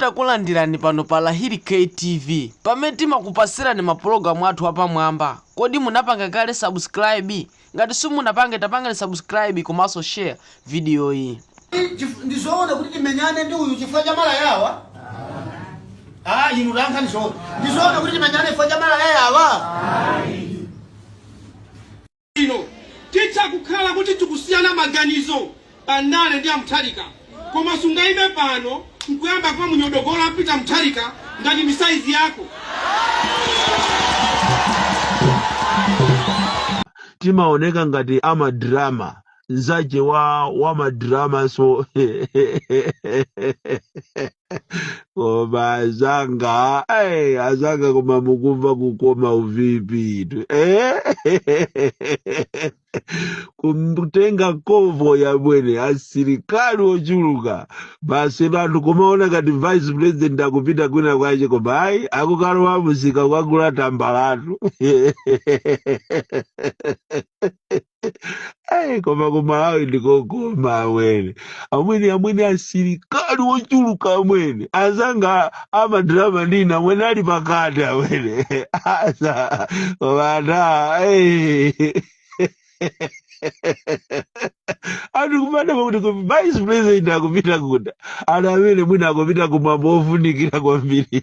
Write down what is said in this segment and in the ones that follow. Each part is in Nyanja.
Takulandirani pano pa Lahiri K TV pamene timakupasirani ma program athu apamwamba. Kodi munapanga kale subscribe? Ngati simunapanga tapangani subscribe komanso share video iyi. Chif- ndi zoona kuti timenyane ndi uyu chifukwa cha mala yawa ah inu lankha ndi zoona ndi zoona kuti timenyane chifukwa cha mala yawa bwino. Titha kukhala kuti tikusiyana maganizo pa ndale ndi a Mutharika koma sungaime pano nkuyamba kumunyodogola a Peter Mutharika ngati ndi saizi yako. timaoneka ngati amadrama nzache wa madramanso koma azanga eh, azanga koma mukumva kukoma u VP-tu eh? kumtenga convoy amwene asilikali ochuluka basi anthu kumaona ngati vice president akupita kwina kwache koma ayi akukalowa mumsika kukagula tambalatu Hey, koma kumalawi ndi kokoma amwene amwene amwene asilikali ochuluka amwene azanga amadrama ndina amwene ali pakati amwene asa vana hey. anthu kumadabwa kuti vice president akupita kuti amwene amwene mwina akupita kumwambo ofunikira kwambiri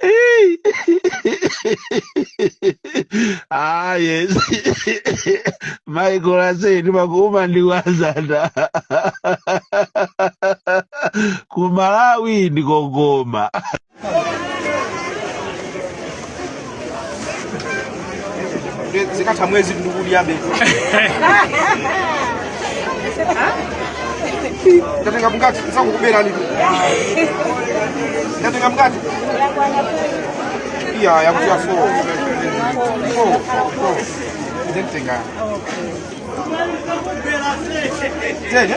Hey. ah, yes. Michael, Usi, Makuma ndi wazata. Kumalawi ndi kokoma. zikatha mwezi ndikudyabe ndatenga mkati sakukuberani ndatenga mkati iya yakutia fo fo fo ndentenga tenye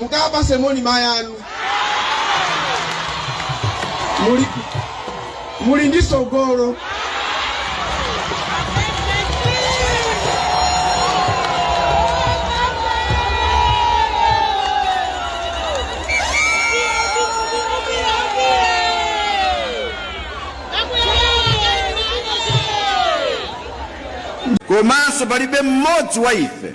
mukawapatse moni mayi anu muli ndi tsogolo komanso palibe mmodzi wa ife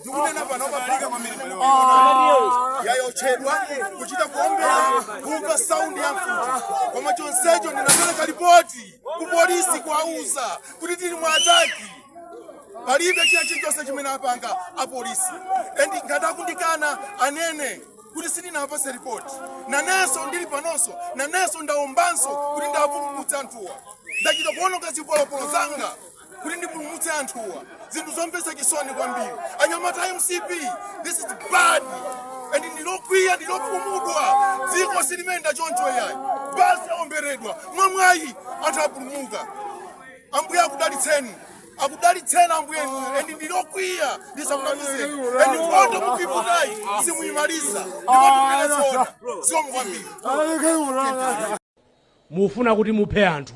ndikunena panopa pali kwambiri mbele wanga yayotchedwa kuchita kuombera kumva saundi ya mfuti koma chonsecho ndinapereka ripoti ku polisi kuwauza kuti tili mu attack palibe china chilichonse chimene apanga apolisi and ngati akundikana anene kuti sindinawapatse ripoti nanenso ndili panonso nanenso ndaombanso kuti ndiwapulumutse anthuwa ndachita kuononga zipolopolo zanga kuti ndipulumutse anthuwa zinthu zomvetsa chisoni kwambiri anyamata a mcp this is bad and ndilokwiya ndilokhumudwa dziko silimayenda choncho yayi basi aomberedwa mwamwayi anthu apulumuka ambuye akudalitseni akudalitseni ambuye and ndilokwiya ndisakunamizeni and nkhondo mukuiputayi simuyimaliza ndikutotinena zoona zikomo kwambiri mufuna kuti muphe anthu.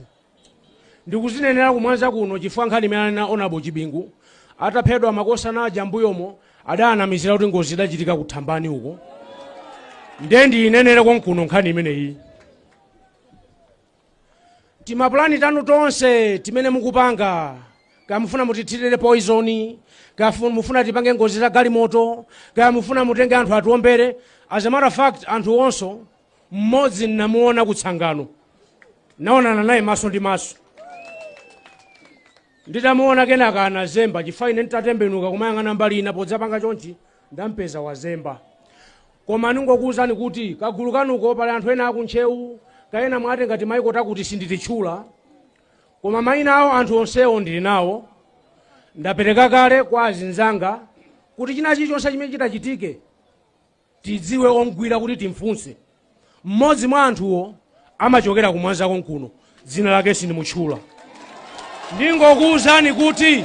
Ndikuzinenera ku Mwanza kuno chifukwa nkhani imeneyi Hon. Chibingu ataphedwa makosana aja m'mbuyomo adaanamizira kuti ngozi idachitika ku Thambani uko. Ndiye ndiyinenere konkuno nkhani imeneyi. Timapulani tanu tonse timene mukupanga kaya mufuna mutithirire poizoni kaya fu- mufuna tipange ngozi za galimoto kaya mufuna mutenge anthu atiwombere as a matter of fact anthu onsewo mmodzi nnamuona kutsangano naonana naye maso ndi maso nditamuona kenaka anazemba chifukwa ine nditatembenuka kumayang'ana mbali ina podzapanga chonchi ndampeza wazemba koma ndingokuwuzani kuti kagulu kanuko pali anthu ena akuNtcheu kaya ena mwatenga timaiko takuti sindititchula koma mayina awo anthu onsewo ndili nawo ndapereka kale kwa azinzanga kuti china chilichonse chimene chitachitike tidziwe omgwira kuti timfunse. Mmodzi mwa anthuwo amachokera ku Mwanza konkuno, dzina lake sindimutchula. Ndingokuwuzani kuti